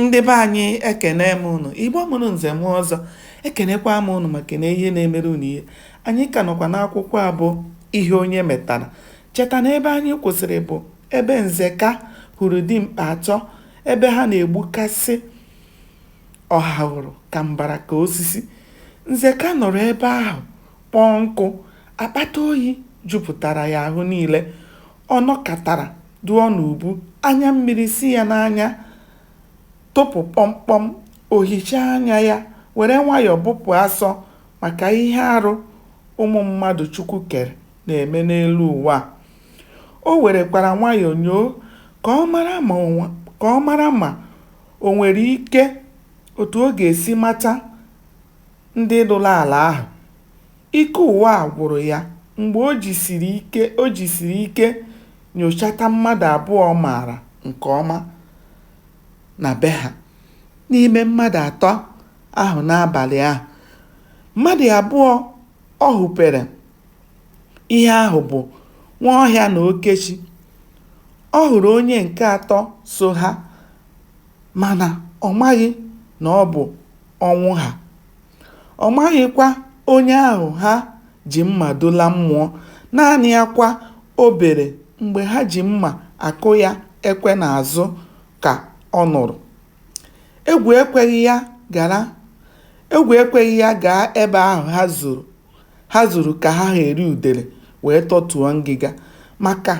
ndị be anyị ekenee m ụnụ igbo mụrụ nze mụọ ọzọ ekenekwa m ụnụ maka na ihe na-emere ụnụ ihe anyị ka nọkwa n'akwụkwọ a bụ ihe onye metara cheta na ebe anyị kwụsịrị bụ ebe nzeka hụrụ dimkpa atọ ebe ha na-egbukasị ọhahụrụ ka mbara ka osisi nzeka nọrọ ebe ahụ kpọọ nkụ akpata oyi jupụtara ya ahụ niile ọ nọkatara dụọ n'ubu, anya mmiri si ya n'anya tụpụ kpọmkpọm, o hichaa anya ya, were nwayọọ bụpụ asọ maka ihe arụ ụmụ mmadụ Chukwu kere na-eme n'elu ụwa a. O werekwara nwayọọ nyoo ka ọ mara ma o ka ọ mara ma o nwere ike otu ọ ga-esi mata ndị lụrụ ala ahụ. Ike ụwa gwụrụ ya mgbe o jisiri ike o jisiri ike nyochata mmadụ abụọ ọ maara nke ọma na be ha n'ime mmadụ atọ ahụ n'abalị ahụ. Mmadụ abụọ ọ hụpere ihe ahụ bụ Nwaọhịa na Okechi. Ọ hụrụ onye nke atọ so ha mana ọ maghị na ọ bụ Ọnwụha. Ọ maghịkwa onye ahụ ha ji mma dula mmụọ, naanị akwa o bere mgbe ha ji mma akụ ya ekwe n'azụ ka ọ nụrụ. Egwu ekweghị ya gara egwu ekweghị ya gaa ebe ahụ ha zuru ha zuru ka ha ha eri udele wee tọtuo ngịga maka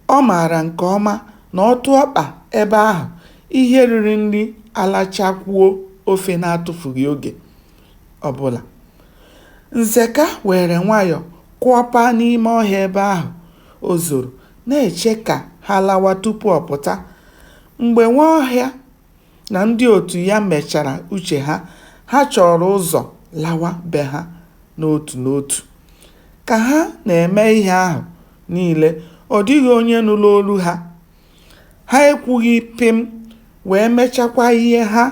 Ọ maara nke ọma na ọ tụọ ọkpa ebe ahụ, ihe riri nri alachakwuo ofe n'atụfughị oge ọ bụla. Nzeka weere nwayọ kụọpaa n'ime ọhịa ebe ahụ o zoro, na-eche ka ha lawa tupu ọ pụta. Mgbe Nwaọhịa na ndị otu ya mechara uche ha, ha chọọrọ ụzọ lawa be ha n'otu n'otu. Ka ha na-eme ihe ahụ niile, ọ dịghị onye nụrụ olu ha. Ha ekwughị pịm wee mechakwa ihe ha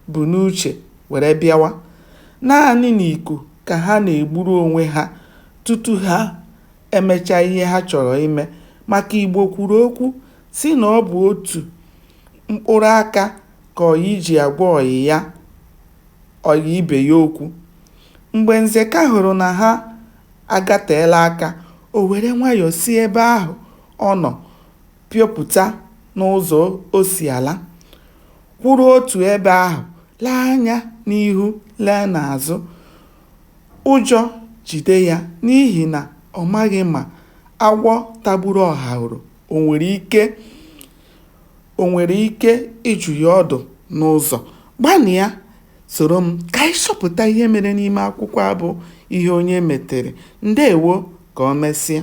bu n'uche were bịawa. Naanị n'iku ka ha na-egburu onwe ha tutu ha emecha ihe ha chọrọ ime maka Igbo kwuru okwu sị na ọ bụ otu mkpụrụ aka ka ọyị ji agwa ọyị ya ọyị ibe ya okwu. Mgbe Nzeka hụrụ na ha agateela aka, o were nwayọ si ebe ahụ ọ nọ piopụta n'ụzọ o si ala, kwụrụ otu ebe ahụ, lee anya n'ihu lee n'azụ. Ụjọ jide ya n'ihi na ọ maghị ma agwọ tagburu ọhaụrụ o nwere ike o nwere ike ịjụ ya ọdụ n'ụzọ. Gbalịa soro m ka anyị chọpụta ihe mere n'ime akwụkwọ a bụ Ihe Onye Metere. Ndewo, ka o mesịa.